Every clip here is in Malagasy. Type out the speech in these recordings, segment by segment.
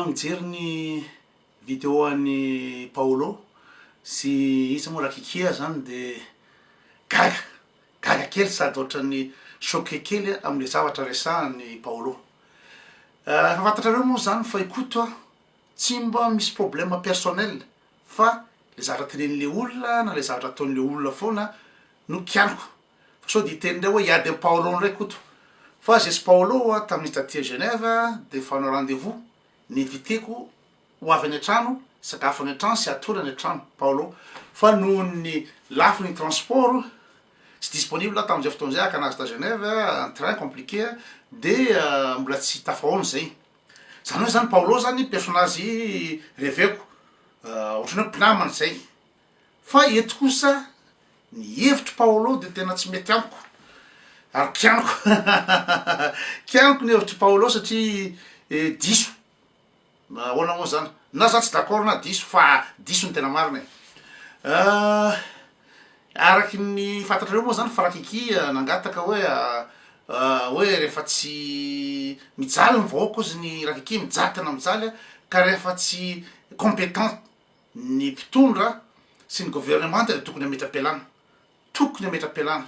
Mijery ny video an'i Paolo sy iza moa Rakikia zany de gaga, gaga kely sady ohatran'ny choqué kely aho amle zavatra resahan'i Paolo. Efa fantatrareo moa zany fa i Koto a tsy mba misy problème personnel fa le zavatra tenenin'le olona na le zavatra ataon'le olona foana no kianiko. Fa sao dia hiteny indray hoe hiady amin'i Paolo indray Koto. Fa aza esy Paolo a, tamin'izy taty à Genève dia efa hanao rendez vous, ni-inviter-ko ho avy any an-trano, hisakafo any an-trano sy hatory any an-trano Paolo. Fa nohon'ny lafiny transport, tsy disponible aho tamin'izay fotoana izay hakana azy tà Genève, en train, compliqué, dia mbola tsy tafahaona izay. Izany hoe izany Paolo izany personnage reveko, ohatran'ny hoe mpinamana izay. Fa eto kosa ny hevitr'i Paolo dia tena tsy mety amiko ary kianiko kianiko ny hevitr'i Paolo satria diso na ahoana moa zany na za tsy d'accord na diso fa diso ny tena marina e araky ny fantatrareo moa zany frakiky nangataka hoe hoe rehefa tsy mijaly ny vahoaka ozy ny rakiky mijaly tena mijaly ka rehefa tsy compétent Ny mpitondra sy ny governemanta dia tokony hametra-pialana, tokony hametra-pialana.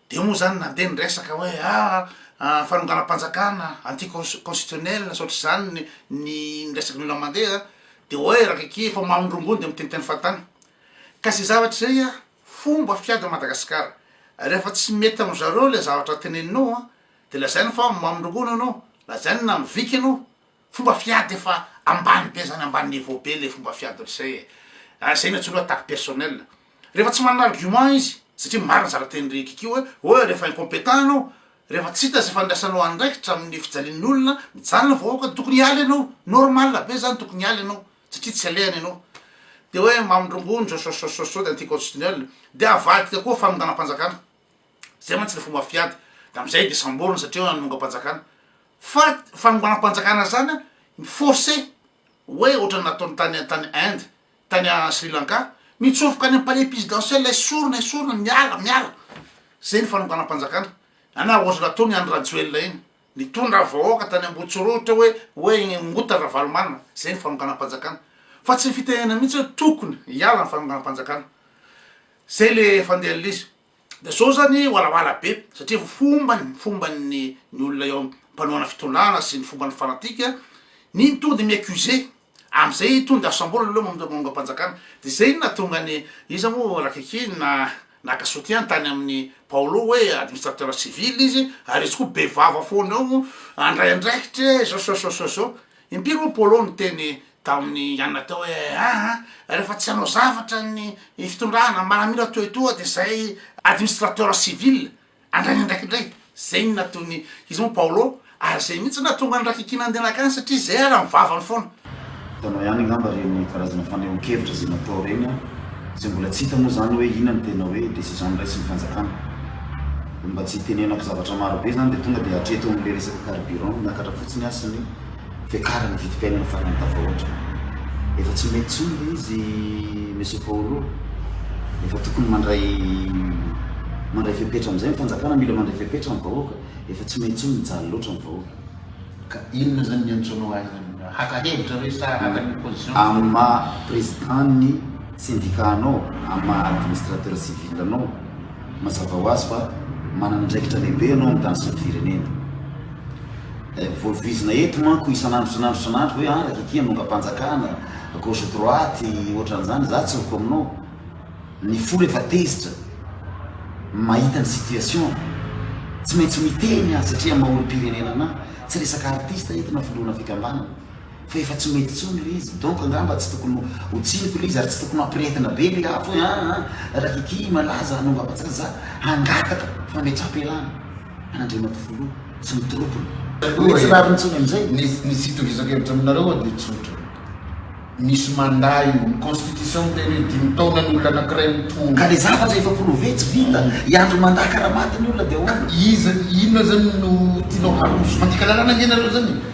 Dia moa izany nandeha ny resaka hoe aa fanonganam-panjakana, anti constitutionnel sy ohatr'izany ny resaky ny olona mandeha dia hoe rakaky efa mamy ny rongony dia miteniteny fahatany. Ka izay zavatra izay a, fomba fiady an'i Madagasikara. Rehefa tsy mety amin-dry zareo ilay zavatra teneninao a, dia lazainy fa mamy ny rongony ianao, lazainy na miviky ianao. Fomba fiady efa ambany be zany ambany niveau be le fomba fiady rzay e ah zay miantsolo hoe attaque personnelle rehefa tsy manana argument izy satria marina zara teny ry kiki hoe hoe rehefa incompetent anao rehefa tsy hita zay fandraisanao andraikitra amin'ny fijalian'ny olona mijaly ny vahoaka tokony hiala ianao normal be zany tokony hiala ianao satria tsy alehany ianao de hoe mamindrongondo sososososo de anticonstitutionnel de avadika koa fanonganam-panjakana Zay mantsy le fomba fiady de amzay de samborina satria hoe hanongampanjakana fa fanonganampanjakana zany a ny force hoe otrany nataony tany tany inde tany a sri lanka mitsofoka any am palais pisidentiel esorina esorina miala miala zay ny fanonganampanjakana ana ohatry nataony andry rajoelina iny nitondra vahoaka tany ambotsirohitra hoe hoe ngota ravalomanana zay ny fanonganampanjakana fa tsy fitenenana mitsy hoe tokony hiala ny fanonganampanjakana zay le fandehanlizy De zao zany walawala be satria fomba ny fomba ny ny olona eo mpanohana fitondràna sy ny fomba ny fanatika ny ny tody mi accuser amzay tody asambola leo mamdra mamogampanjakana de zay no natonga ny iza mo rakiki na naka soutien tany aminy paolo hoe administrateur civil izy ary izy koa be vava fona eo andray andraikitra e zao sao sao sao sao Impiry moa Paolo niteny tamin'i Anna teo hoe, Aa, rehefa tsy hanao zavatra ny fitondrana, maramila toa etoa, dia izay administrateur civil handray ny andraikiny indray. Izay no nataon'i, iza moa, Paolo, ary izay mihitsy no nahatonga ny rakikina handehanaka any, satria izay ary amin'ny vavany foana. Hitanao ihany angamba ireny karazana fanehoan-kevitra izay natao ireny an! Izay mbola tsy hita moa izany hoe inona no tena hoe decision niraisin'ny fanjakana. Ny mba tsy hitenenako zavatra maro be izany dia tonga dia hatreto amin'ilay resaka carburant, miakatra fotsiny aho sy ny fiakaran'ny vidim-piainana farany tafahoatra. Efa tsy mety intsony ilay izy Monsieur Paolo. Efa tokony mandray mandray fepetra amin'izay ny fanjakana, mila mandray fepetra ny vahoaka. Efa tsy mety intsony, mijaly loatra ny vahoaka. Ka inona izany ny antsoinao ahy izany? Haka hevitra ve sa haka ny position? Amin'ny maha président ny syndicat anao, amin'ny maha administrateur civil anao, Mazava ho azy fa manana andraikitra lehibe ianao amin'ny tany sy ny firenena. Voalohizina eto manko isan'andro isan'andro isan'andro hoe an, ry ity anongam-panjakana, gauche droite, ohatran'izany, izaho tsy ho comme non. Ny folo efa tezitra, mahita ny situation, tsy maintsy miteny aho satria maha olom-pirenena anah. Tsy resaka artiste eto na filohana fikambanana. Fa efa tsy mety intsony ilay izy, donc angamba tsy tokony ho tsiniko ilay izy ary tsy tokony hampirehetina be ilay afo hoe aa raha ity malaza hanongam-bazaha za hangataka fametraham-pialana an'Andriamatoa Filoha sy ny troupiny. Ny hoe tsy rariny intsony amin'izay? Ny ny tsy itongizan-kevitra aminareo aho dia tsotra. Misy mandà io. Ny constitution miteny hoe dimy taona ny olona anankiray mitondra. Ka ilay zavatra efa prouvé tsy vita, hiandry mandà karaha maty ny olona dia ahoana? Iza, inona izany no tianao haroso? Mandika lalàna ange ianareo izany e!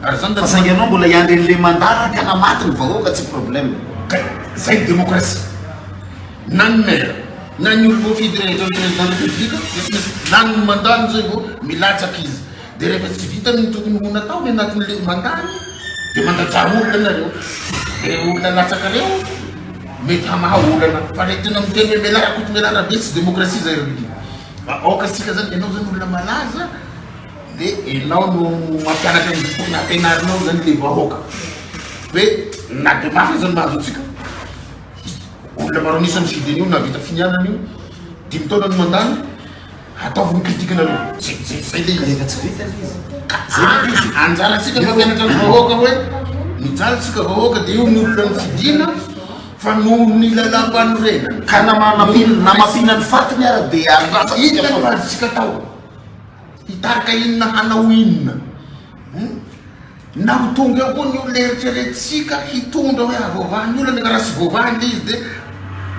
Fa saingy ianao mbola hiandry an'ilay mandaraka na maty ny vahoaka tsy problème. Kay zay ny démocratie. Na ny maire, na ny olona voafidy rehetra ho président république dia tsy maintsy lany ny mandat-ny zay vao milatsaka izy. Dia rehefa tsy vitany ny tokony ho nataony anatin'ilay mandat-ny dia mandradraha olona nareo. Dia ireo olona latsaka ireo mety hamaha olana. Fa ilay tena miteny hoe Mela Rakotomelarabe tsy démocratie zay ry Rudy. Aoka isika zany, ianao zany olona malaza, De enao no mampianatra ny boky nampianarinao zany le vahoaka hoe na de mafy aza ny mahazo antsika olona maro an'isa ny fidiny io nahavita finianana io dimy taona no mandany ataovy ny critique nareo zay zay zay le izy rehefa tsy vita le izy ka zay izy anjarantsika mampianatra ny vahoaka hoe mijaly tsika vahoaka de io ny olona ny fidina fa noho ny lalam-panorenana ka namana namafina ny fatiny ara de andrasa ita ny vadintsika tao Hitarika inona hanao inona? Na ho tonga eo koa ny olona eritreretintsika hitondra hoe havoavaha ny olona, nefa raha tsy voavaha ilay izy dia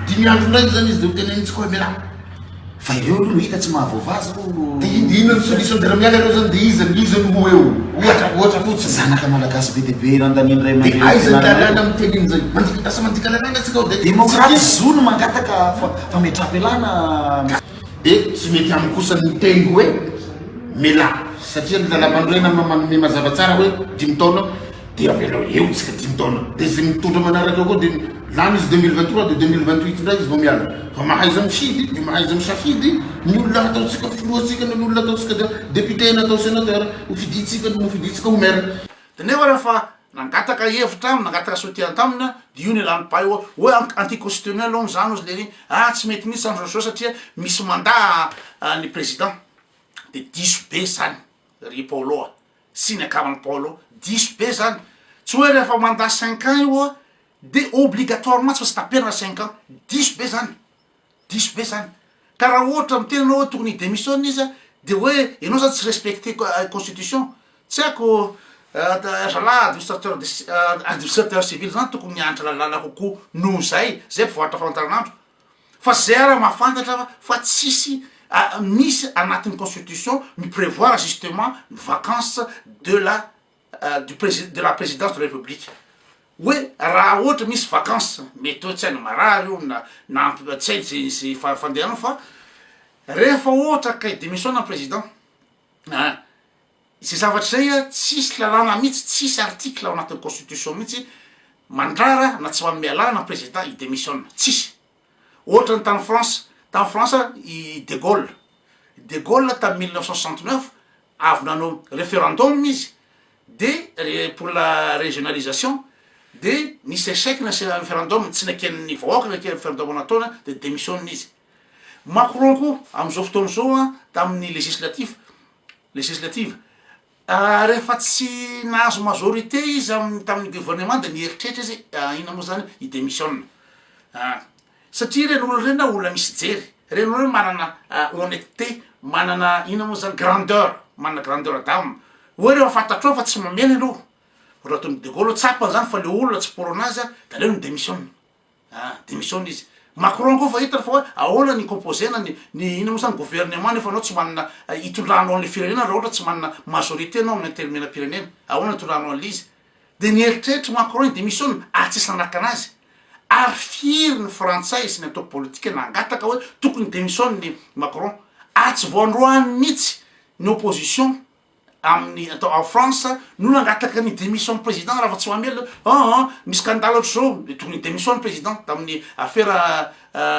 dimy andro indray izany izy dia ho tenenintsika hoe miala. Fa ireo aloha no hita tsy mahavoavaha zao. Dia inona ny solution? Dia raha miala ireo izany dia iza no iza no ho eo? Ohatra, ohatra fotsiny. Zanaka malagasy be dia be irandanin'ny ray aman-dreny. Dia aiza ny lalàna miteny an'izay? Mandik, lasa mandika lalàna isika ao dia tsy misy. Demokraty zo no mangataka fametraha-pialana. Dia tsy mety amiko kosa ny miteny hoe melà satria ny lalampanorenana no manome mazava tsara hoe dimy taona dia avelao eo tsika dimy taona dia izay mitondra manaraka eo koa dia lany izy 2023 dia 2028 indray izy vao miala fa mahaiza mifidy dia mahaiza misafidy ny olona ataontsika filohantsika na ny olona ataontsika dia député na atao sénateur ho fidintsika no fidintsika ho maire. Dia nefa raha fa Nangataka hevitra aminy, nangataka soutien taminy aho, dia io no ialany paille hoe hoe an- anticonstitutionnel hono izany hozy lery, ah tsy mety mihitsy izany Jojo satria misy mandat ny président, dia diso be izany ry Paolo a, sy ny akaman'i Paolo, diso be izany, tsy hoe rehefa mandat cinq ans io dia obligatoirement tsy maintsy taperina cinq ans, diso be izany. Diso be zany. Ka raha ohatra miteny anao hoe tokony hi-demissionne izy a, de hoe ianao zany tsy respecter constitution. Tsy haiko, zalahy administrateur de ci administrateur civil zany tokony mianatra lalàna kokoa noho zay, zay vao ahafantaran'andro. Fa zay ara mahafantatra fa fa tsisy misy anatin'ny constitution mi-prevoir justement ny vacances de la. du presi- de la présidence de la république hoe raha ohatra misy vacance mety hoe tsy hainy marary io na na amp- tsy hainy ze ze fa- fandehany fa rehefa ohatra akay démission na président a ze zavatra zay a tsisy lalàna mihitsy tsisy article ao anatin'ny constitution mihitsy mandrara na tsy manome alàna président hidemissiona tsisy Ohatra ny tany France, tany France i De Gaulle, De Gaulle tamy mille neuf cent soixante neuf avy nanao referendum izy de re- pour la régionalisation de nisy échec ny se- referendum tsy neken'ny vahoaka ny ke- referendum nataony de demissionne izy. Macron koa am'zao fotoana zao a tamin'ny législatif, législative, Rehefa tsy nahazo majorité izy amin'ny tamin'ny gouvernement dia nieritreritra izy inona moa izany hi démissionne ah, satria ireny olona ireny ah olona misy jery, ireny olona ireny manana honnêteté, manana inona moa izany grandeur, manana grandeur d'âme, hoe rehefa fantatrao fa tsy mamela ianao, ohatra ataon'i de Gaulle tsapany izany fa ilay olona tsy porona azy dia aleo mi démissionne. Ah, démissionne izy. Macron koa efa hitany fa hoe ahoana ny composena ny ny inona moa zany gouvernement nefa anao tsy manana hitondranao an'le firenena raha ohatra tsy manana majorité anao amin'ny antenimieram-pirenena, ahoana hitondranao an'le izy? Dia nieritreritra i Macron hi-démissionne ary tsisy nanakana azy. Ary firy ny frantsay sy ny antoko politika nangataka hoe tokony hi-démissionne i Macron ary tsy vao androany mihitsy ny opposition amin'ny atao en France no nangataka ny démission ny président Rafatsimamelona an an ny scandale ohatr'izao tokony hi démission ny président tamin'ny afera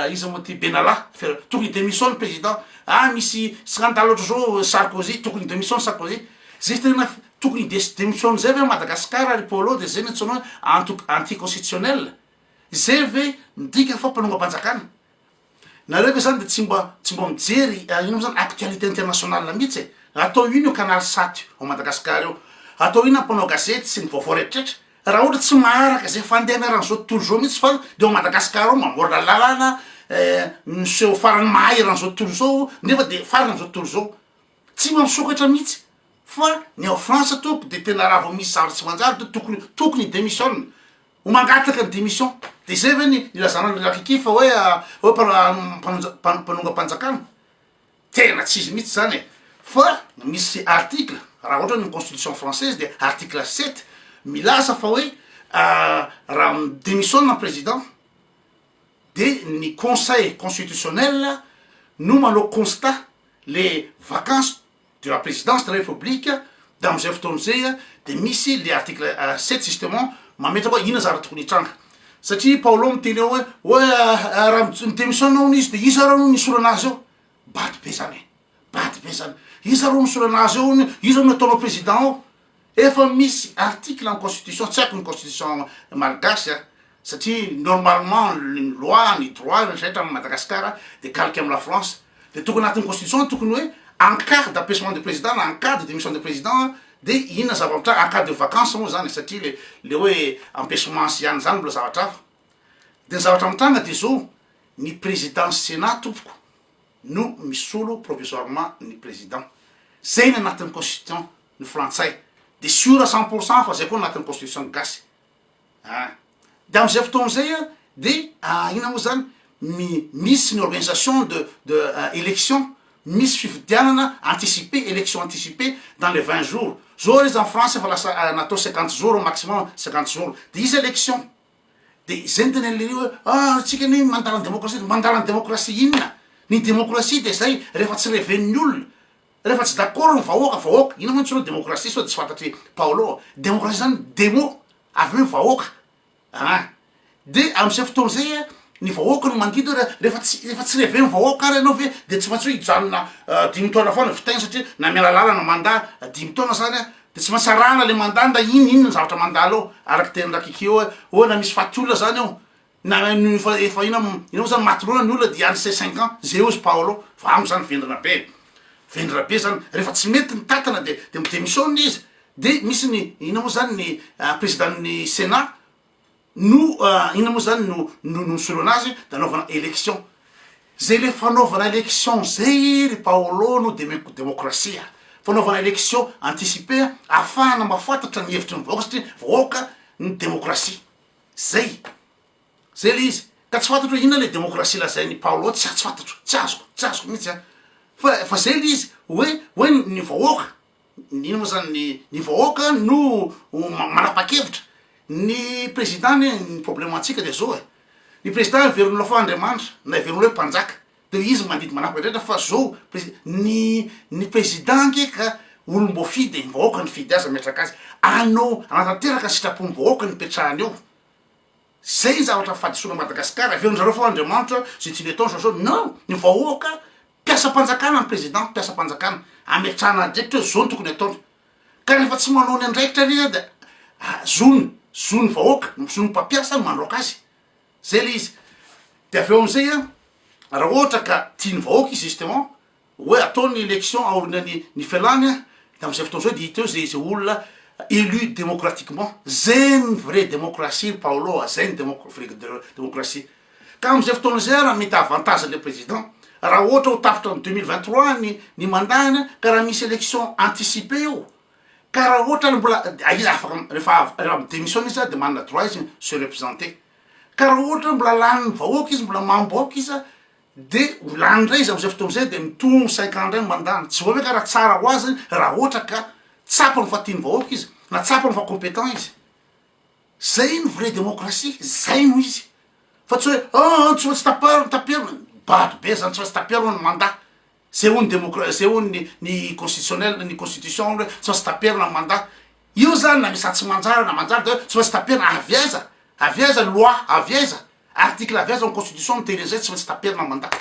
iza moa ty Benalla afera tokony hi démission ny président ah misy scandale ohatr'izao Sarkozy tokony hi démission ny Sarkozy zay tena f- tokony hi dés- démission zay ve Madagasikara ry Paolo de zay no antsoina hoe anto- anti constitutionnel zay ve midika fa mpanongam-panjakana Nareo ve zany de tsy mba tsy mba mijery ino moa zany actualité internationale mihitsy e? Atao ino io canal sat io ao Madagascar eo? Atao ino ny mpanao gazety sy ny vaovao rehetraretra? Raha ohatra tsy maharaka zay fandehanana zao tontolo zao mihitsy fa de ao Madagascar ao mamboarina lalana eh miseho farany mahay eran' zao tontolo zao nefa de farany zao tontolo zao tsy mba misokatra mihitsy fa ny ao France tompoko de tena raha vao misy zavatra tsy manjary de tokony tokony hi-demissionne Ho mangataka ny démission. Dia izay ve ny ilazana an'i Rakiki fa hoe hoe mpanonja mpanongam-panjakana? Tena tsy izy mihitsy izany e! Fa misy article raha ohatra ny constitution française dia article sept milaza fa hoe raha mi-démissionne ny président dia ny conseil constitutionnel no manao constat le vacance de la présidence de la république de amizay fotoana zay de misy le article sept justement mametraka hoe inona zara tokony hitranga satria paolo miteny ao hoe hoe raha mi demissionne hono izy de iza ary hono nisorana azy eo bado be zany e bado be zany iza ary hono nisorana azy eo hono iza hono ataonao président ao Efa misy article amin'ny constitution, tsy haiko ny constitution malgache a, satria normalement ny loi, ny droit rehetra rehetra amin'i Madagascar dia calque amin'i la France, dia tokony anatin'ny constitution ny tokony hoe en cas d'abaissement de président na en cas de démission de président dia inona zava-mitranga, en cas de vacance moa zany e, satria le le hoe empechement sy ihany zany mbola zavatra hafa, dia ny zavatra mitranga dia zao, ny président senat tompoko, no misolo provisoirement ny président. Zay ny anatin'ny constitution ny frantsay de sûr cent pour cent fa zay koa anatin'ny constitution ny gasy a! De amzay fotoana zay a de ina moa zany mi misy ny organisation de de election misy fifidianana anticiper election anticiper dans les vingt jours zao ary izy any france efa lasa natao cinquante jours maximum cinquante jours de izy election De zay ny tena le hoe ah tsika anie mandala ny demokrasia de mandala ny demokrasia inona? Ny demokrasia de zay rehefa tsy reven'ny olona, rehefa tsy d'accord ny vahoaka, vahoaka inona moa ny antsoina demokrasia sao de tsy fantatry Paolo a? Demokrasia zany demo avy hoe vahoaka a! de am'zay fotoana zay a ny vahoaka no mandidy hoe raha rehefa tsy rehefa tsy reven'ny vahoaka ary ianao ve de tsy maintsy hoe hijanona dimy taona foana vita igny satria na miala lalana mandat dimy taona zany a De tsy maintsy arahana le mandat ndray inona inona ny zavatra mandalo ao, araky teny ndra kiki eo hoe oe na misy faty olona zany ao na efa efa ina mo ina mo zany maty loana ny olona dia any ces cinq ans ze ozy paolo fa amo zany vendrana be vendrana be zany refa tsy mety ny tatana de de mi-demissionne izy de misy ny ina mo zany ny president ny senat no inona moa zany no no no nisoloana azy de anaovana élection zay le fanaovana élection zay ry Paolo no deme- demokrasia fanaovana élection anticipée a ahafahana mahafantatra ny hevitry ny vahoaka satria vahoaka ny demokrasia zay zay le izy ka tsy fantatro hoe inona le demokrasia lazain'i Paolo tsy a- tsy fantatro tsy azoko tsy azoko mihitsy a fa fa zay le izy hoe hoe ny vahoaka Inona moa zany ny ny vahoaka no manapakevitra? Ny président anie ny problème antsika dia zao e, ny président heveron'olona fa Andriamanitra na heveron'olona hoe mpanjaka de izy mandidy manapa-drehetra fa zao presi- ny ny président ange ka olom-boafidy e, ny vahoaka nifidy azy nametraka azy, anao hanatanteraka sitrapon'ny vahoaka no ipetrahany eo, zay ny zavatra fahadisoana an'i Madagasikara, heverin'ny zareo fa Andriamanitra je suis le temps je suis non ny vahoaka. Mpiasam-panjakana ny president mpiasam-panjakana ametrahana adiditra hoe zao no tokony ataony ka rehefa tsy manao ny andraikitra ilay izy an dia zony zony vahoaka zony mpampiasa no mandroaka azy zay ilay izy dia avy eo amin'izay an raha ohatra ka tiany vahoaka izy justement hoe atao ny election aoriana ny ny fialany an dia amin'izay fotoana izay dia hita eo zay zay olona élu démocratiquement zay ny vrai démocratie ry paolo a zay ny démo- vrai démo- démocratie Ka amin'izay fotoana izay ary mety avantage le président raha ohatra ho tapitra ny deux mille vingt trois ny ny mandat-ny a, ka raha misy élection anticipée eo, ka raha ohatra ary mbola dia izy afaka rehefa avy raha mi-démissionne izy ary dia manana droit izy se representer, ka raha ohatra hoe mbola lanin'ny vahoaka izy mbola mambo aoka izy a de ho lany indray izy amin'izay fotoana izay de mitombo cinq ans indray ny mandat-ny, tsy voatery ka raha tsara ho azy raha ohatra ka tsapany fa tian'ny vahoaka izy na tsapany fa compétent izy. Zay no vrai démocratie, zay no izy fa tsy hoe ah antso fa tsy tapaho taperina, bado be zany tsy maintsy taperina ny mandat, zay hono ny démocra- zay hono ny ny constitutionnel ny constitution hono hoe tsy maintsy taperina ny mandat, io zany na misy atsimanjara na manjary de hoe tsy maintsy taperina, avy aiza avy aiza ny loi avy aiza article avy aiza ny constitution miteny an'izay tsy maintsy taperina ny mandat.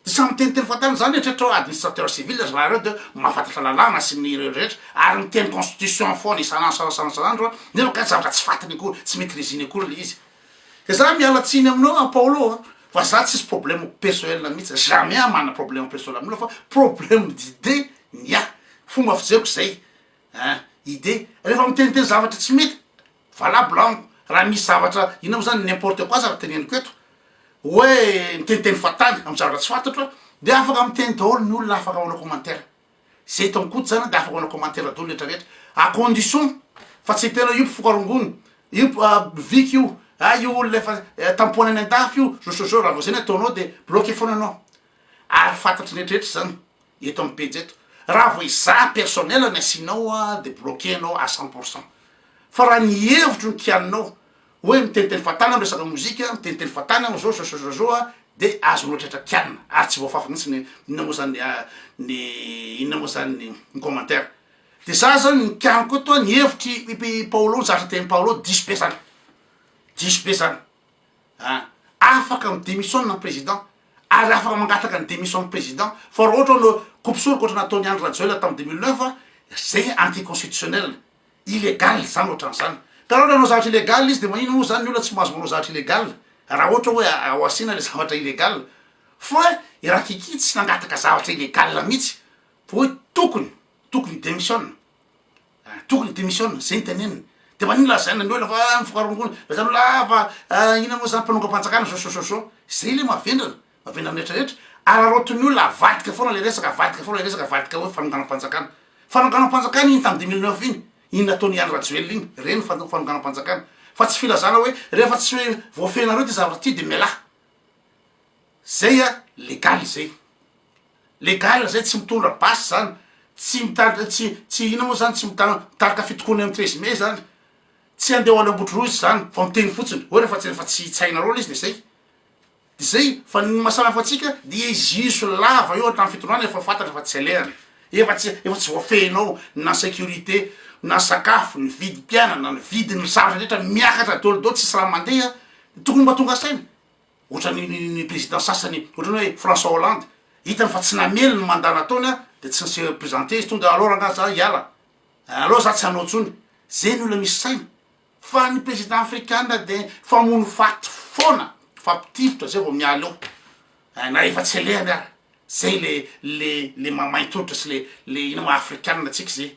Samy miteniteny fahatany zany eritreritra hoe administrateur civil ry zareo de mahafantatra lalàna sy ny ireo rehetra ary miteny constitution foana isan'andro isan'andro isan'andro a nefa kay zavatra tsy fatiny akory tsy maitriziny akory le izy de za miala tsiny aminao a Paolo a fa za tsisy problème persoel mitsy jamais aho mana problème persoel amin'olona fa problème d'idée ny ahy fomba fijeriko zay ein idée refa miteniteny zavatra tsy mety valable amiko raha misy zavatra inona moa zany n'importe quoi zany teneniko eto hoe miteniteny fahatany am zavatra tsy fantatro a de afaka miteny daholo ny olona afaka manao commentaire ze eto am koto zany de afaka manao commentaire daholo rehetra rehetra à condition fa tsy tena io mpifoka rongony io viky io a io olona efa tampohana any an-dafy io zo so zo raha vao zay ny ataonao de bloquer foana anao ary fantatry ny rehetra rehetra zany eto amin'ny pejy eto, raha vao izaho personnel ny asianao dia bloquer anao à cent pour cent, fa raha ny hevitro ny kianinao hoe miteniteny fahatany aho miresaka mozika, miteniteny fahatany aho zao zao zao zao dia azonao tratran'ny kianina ary tsy voafafy mihintsy ny inona moa zany ny inona moa zany ny ny commentaire, dia za zany ny kianiko eto ny hevitry i Paolo ny zavatra tenin'i Paolo diso be zany, diso be zany. An! Afaka mi demissionne ny président ary afaka mangataka ny demission ny président fa raha ohatra hoe coupe soroka ohatrany nataon'i Andry Rajoelina tamin'ny deux mille neuf an! zay anti constitutionnel, illégal izany ohatran'izany. Ka raha ohatra hanao zavatra illégal izy dia maninona moa izany ny olona tsy mahazo manao zavatra illégal raha ohatra hoe ao asiana ilay zavatra illégal. Fa i Rakiky tsy nangataka zavatra illégal mihitsy fa hoe tokony, tokony hi demissionne. Ah tokony démissionne zay no teneniny de manino lazaina ny olona fa ah mifoka rongony fa zany olona ah fa ah inona moa zany mpanongam-panjakana zao sososo zay le mavendrana mavendrana rehetra rehetra araraotin'ny olona avadika foana le resaka avadika foana le resaka avadika hoe fanonganam-panjakana fanonganam-panjakana iny tamin'ny deux mille neuf iny iny nataon'i Andry Rajoelina iny reny ny fano- fanonganam-panjakana fa tsy filazana hoe rehefa tsy voafehinareo ty zavatra ty de mialà Zay a legal zay. Legal zay tsy mitondra basy zany tsy mitarika tsy tsy ina moa zany tsy mita- mitarika fitokoana eo am treize mai zany tsy hande ho any ambotronoizy zany fa miteny fotsiny hoe refa tsy refa tsy tsy hainareo le izy de zay de zay fa ny mahasamihafo antsika dia hiziso lava eo hatram fitondrana efa fantatra fa tsy alehany efa tsy efa tsy voafehinao na securite na sakafo ny vidim-piainana ny vidin'ny zavatra rehetra miakatra daoly daoly tsisy raha mandeha tokony mba tonga saina Ohatran'ny ny président sasany ohatran'ny hoe François Hollande, hitany fa tsy namely ny mandat nataony an, de tsy ni-se présenter izy, tonga alors angaha za hiala, alors za tsy hanao intsony, zay ny olona misy saina, fa ny président afrikana de famono faty foana, mifampitifitra zay vao miala eo, eh na efa tsy alehany ara, zay le le le maha maintolotra sy le le ina ma afrikana antsika zay,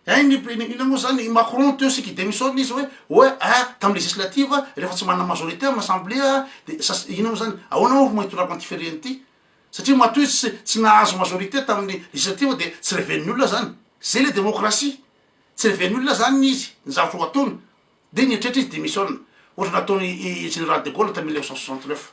Hein ny mpino ino moa zany i Macron teo sika i demissionne izy hoe hoe a tam législative a refa tsy manana majorité am assemblée a de sas ino moa zany ahoana moa fomba hitondrako an'ty firenena ty satria matoa izy tsy tsy nahazo majorité tamin'ny législative de tsy reven'ny olona zany zay le démocratie tsy reven'ny olona zany ny izy ny zavatra ho ataony de nieritreritra izy demissionne ohatra nataony i général de Gaulle tam mille neuf cent soixante neuf.